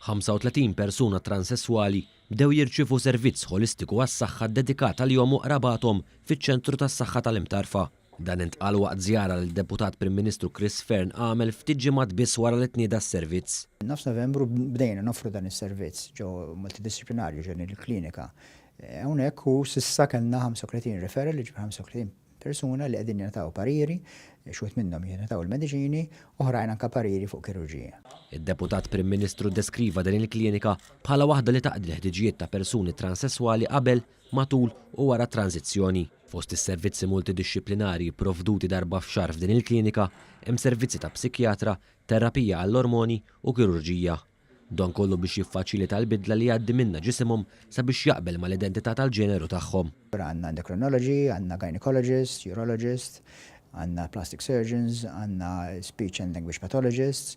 35 persuna transesswali bdew jirċievu servizz ħolistiku għas-saħħa ddedikat għalihom u qrabathom fiċ-Ċentru tas-Saħħa tal-Imtarfa. Dan intqal waqt żjara li d-Deputat Prim Ministru Chris Fearne għamel ftit ġimgħat biss wara li tnieda s-servizz. Minn nofs Novembru bdejna noffru dan is-servizz ġo Multidisciplinarju ġo din il-klinika. Hawnhekk u s'issa kellna 35 referral, jiġifieri 35 persuna li qegħdin jingħataw pariri, xi wħud minnhom jingħataw il-mediċini, oħrajn anke pariri fuq kirurġija. Id-Deputat Prim Ministru ddeskriva din il-klinika bħala waħda li taqdi l-ħtiġijiet ta' persuni transesswali qabel, matul u wara t-tranżizzjoni. Fost is-servizzi multidixxiplinarji pprovduti darba f'xahar f'din il-klinika hemm servizzi ta' psikjatra, terapija għall-ormoni u kirurġija. Dan kollu biex jiffaċilita l-bidla li jgħaddi minnha ġisimhom sabiex jaqbel mal-identità tal-ġeneru tagħhom. Għandna endocrinology, għandna gynaecologist, urologist, għandna plastic surgeons, għandna speech and language pathologists,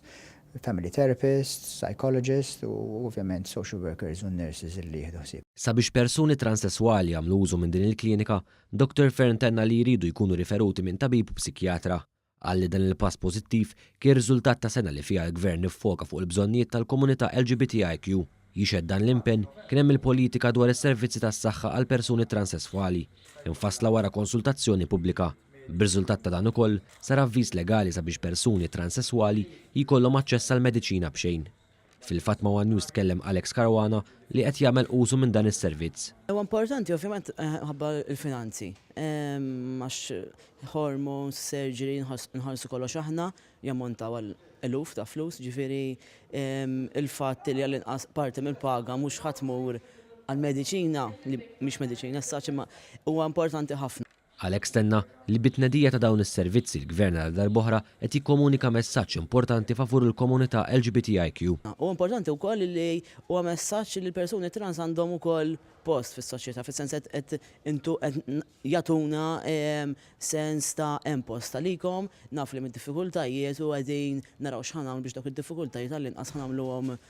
family therapists, psychologists u ovvjament social workers u nurses li jieħdu ħsieb. Sabiex persuni transesswali jagħmlu użu minn din il-klinika, Dottor Fearne tenna li jridu jkunu riferuti minn tabib u psikjatra. Qal li dan il-pass pożittiv kien riżultat ta' sena li fiha l-Gvern iffoka fuq il-bżonnijiet tal-komunità LGBTIQ. Jixhed dan l-impenn kien hemm il-politika dwar is-servizzi tas-saħħa għall-persuni transsesswali, imfassla wara konsultazzjoni pubblika. B'riżultat ta' dan ukoll, sar avviż legali sabiex persuni transsesswali jkollhom aċċess għall-mediċina b'xejn. Fil-fatt ma' one News tkellem Alex Caruana li qed jagħmel użu minn dan is-servizz. Huwa importanti ovvjament minħabba l-finanzi. Għax hormones, surgery, nħallsu kollox aħna, jammontaw għal eluf ta' flus, ġifieri l-fatt li għall-inqas parti mill-paga mhux ħa tmur għall-mediċina, li mhix mediċina as such, imma huwa importanti ħafna. Għalhekk stenna li bit-tnedija ta' dawn is-servizzi l-Gvern għal darb'oħra qed jikkomunika messaġġ importanti favur il-komunità LGBTIQ. Huwa importanti wkoll li huwa messaġġ li l-persuni trans għandhom ukoll post fis-soċjetà, fis-sens qed intu qed jagħtuna sens ta' hemm post għalikom, naf li hemm id-diffikultajiet u qegħdin naraw x'ħa nagħmlu biex dawk id-diffikultajiet għallinqas ħa nagħmluhom